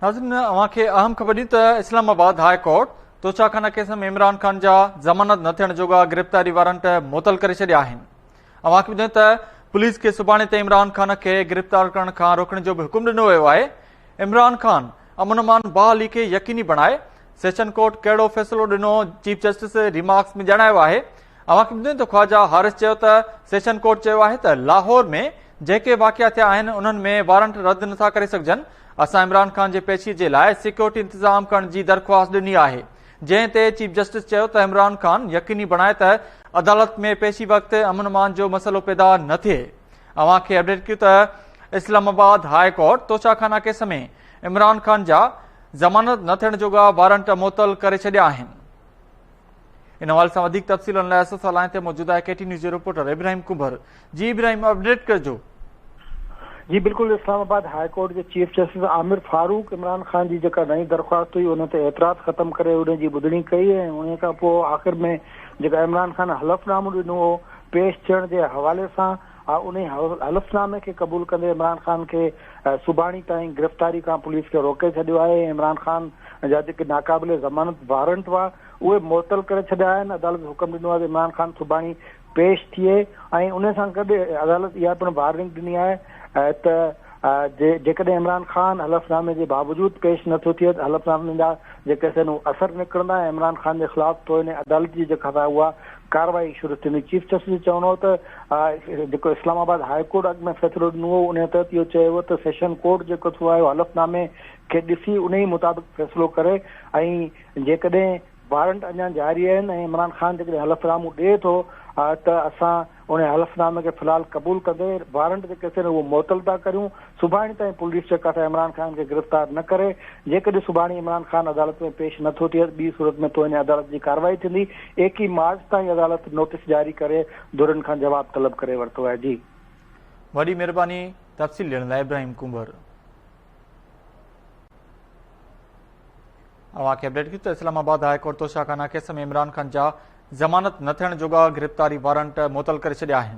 ناظرين اوهان کي اهم خبر ڏين ته اسلام آباد هاء ڪورٽ توشا خانه ڪيس ۾ عمران خان جا ضمانت نه ٿيڻ جوڳا گرفتاري وارنٽ معطل ڪري ڇڏيا آهن اوهان کي ٻڌائين ته پوليس کي سڀاڻي تي عمران خان کي گرفتار ڪرڻ کان روڪڻ جو به حڪم ڏنو ويو آهي عمران خان امن امان بحالي کي يقيني بڻائي سيشن ڪورٽ ڪهڙو فيصلو ڏنو چيف جسٽس ريمارڪس ۾ ڄاڻايو آهي اوهان کي ٻڌين ته خواجا حارث چيو ته سيشن ڪورٽ چيو آهي ته لاهور ۾ جيڪي واقعا ٿيا آهن انهن ۾ وارنٽ رد نٿا ڪري سگهجن اسان عمران خان جي پيشي جي لاء سيڪيورٽي انتظام ڪرڻ جي درخواست ڏني آهي جنهن تي چيف جسٽس چيو ته عمران خان يقيني بڻائي ته عدالت ۾ پيشي وقت امن امان جو مسئلو پيدا نه ٿئي اوهان کي اپڊيٽ ڪيو ته Islamabad high court Toshakhana case ۾ Imran Khan جا ضمانت نه ٿيڻ جوڳا وارنٽ معطل ڪري ڇڏيا آهن ان حوالي سان وڌيڪ تفصيلن لاء اسان سان لائين تي موجود آهي ڪي ٽي نيوز جو رپورٽر ابراهيم ڪنڀر جي ابراهيم اپڊيٽ ڪجو جي بلڪل اسلام آباد هاء ڪورٽ جي چيف جسٽس عامر فاروق عمران خان جي جيڪا نئين درخواست هئي ان تي اعتراض ختم ڪري ان جي ٻڌڻي ڪئي ۽ ان کان پوء آخر ۾ جيڪا عمران خان حلف نامو ڏنو هو پيش ٿيڻ جي حوالي سان انهي حلف نامي کي قبول ڪندي عمران خان کي سڀاڻي تائين گرفتاري کان پوليس کي روڪي ڇڏيو آهي ۽ عمران خان جا جيڪي ناقابل ضمانت وارنٽ هئا اهي معطل ڪري ڇڏيا آهن عدالت حڪم ڏنو آهي ته عمران خان سڀاڻي پيش ٿئي ۽ انهي سان گڏ عدالت اها پڻ وارننگ ڏني آهي ته جيڪڏهن عمران خان حلف نامي جي باوجود پيش نه ٿو ٿئي ته حلف نامي جا جيڪي سن اثر نڪرندا ۽ عمران خان جي خلاف توهين عدالت جي جيڪا سزا اها ڪارروائي شروع ٿيندي، چيف جسٽس جو چوڻ هو ته جيڪو اسلام آباد هاء ڪورٽ اڳ ۾ فيصلو ڏنو هو انهي تحت اهو چيو ويو ته سيشن ڪورٽ جيڪو ٿيو آهي حلف نامي کي ڏسي انهي مطابق فيصلو ڪري ۽ جيڪڏهن وارنٽ اڃا جاري آهن ۽ عمران خان جيڪڏهن حلف نامو ڏئي ٿو ته اسان انهي حلف نامي کي في الحال قبول ڪندي وارنٽ جيڪي اٿن اهي معطل ٿا ڪريون. سڀاڻي تائين پوليس چڪاٺ عمران خان کي گرفتار نه ڪري، جيڪڏهن سڀاڻي عمران خان عدالت ۾ پيش نه ٿو ٿئي ته ٻي صورت ۾ توهين عدالت جي ڪارروائي ٿيندي، ايڪيهه مارچ تائين عدالت نوٽيس جاري ڪري ڌرين کان جواب طلب ڪري ورتو آهي. جي. وڏي مھرباني تفصيل ڏيڻ لاء ابراهيم ڪنڀر. اوهان کي اپڊيٽ ڪيون ته Islamabad high court Toshakhana case ۾ Imran Khan جا ضمانت نه ٿيڻ جوڳا گرفتاري وارنٽ معطل ڪري ڇڏيا آهن.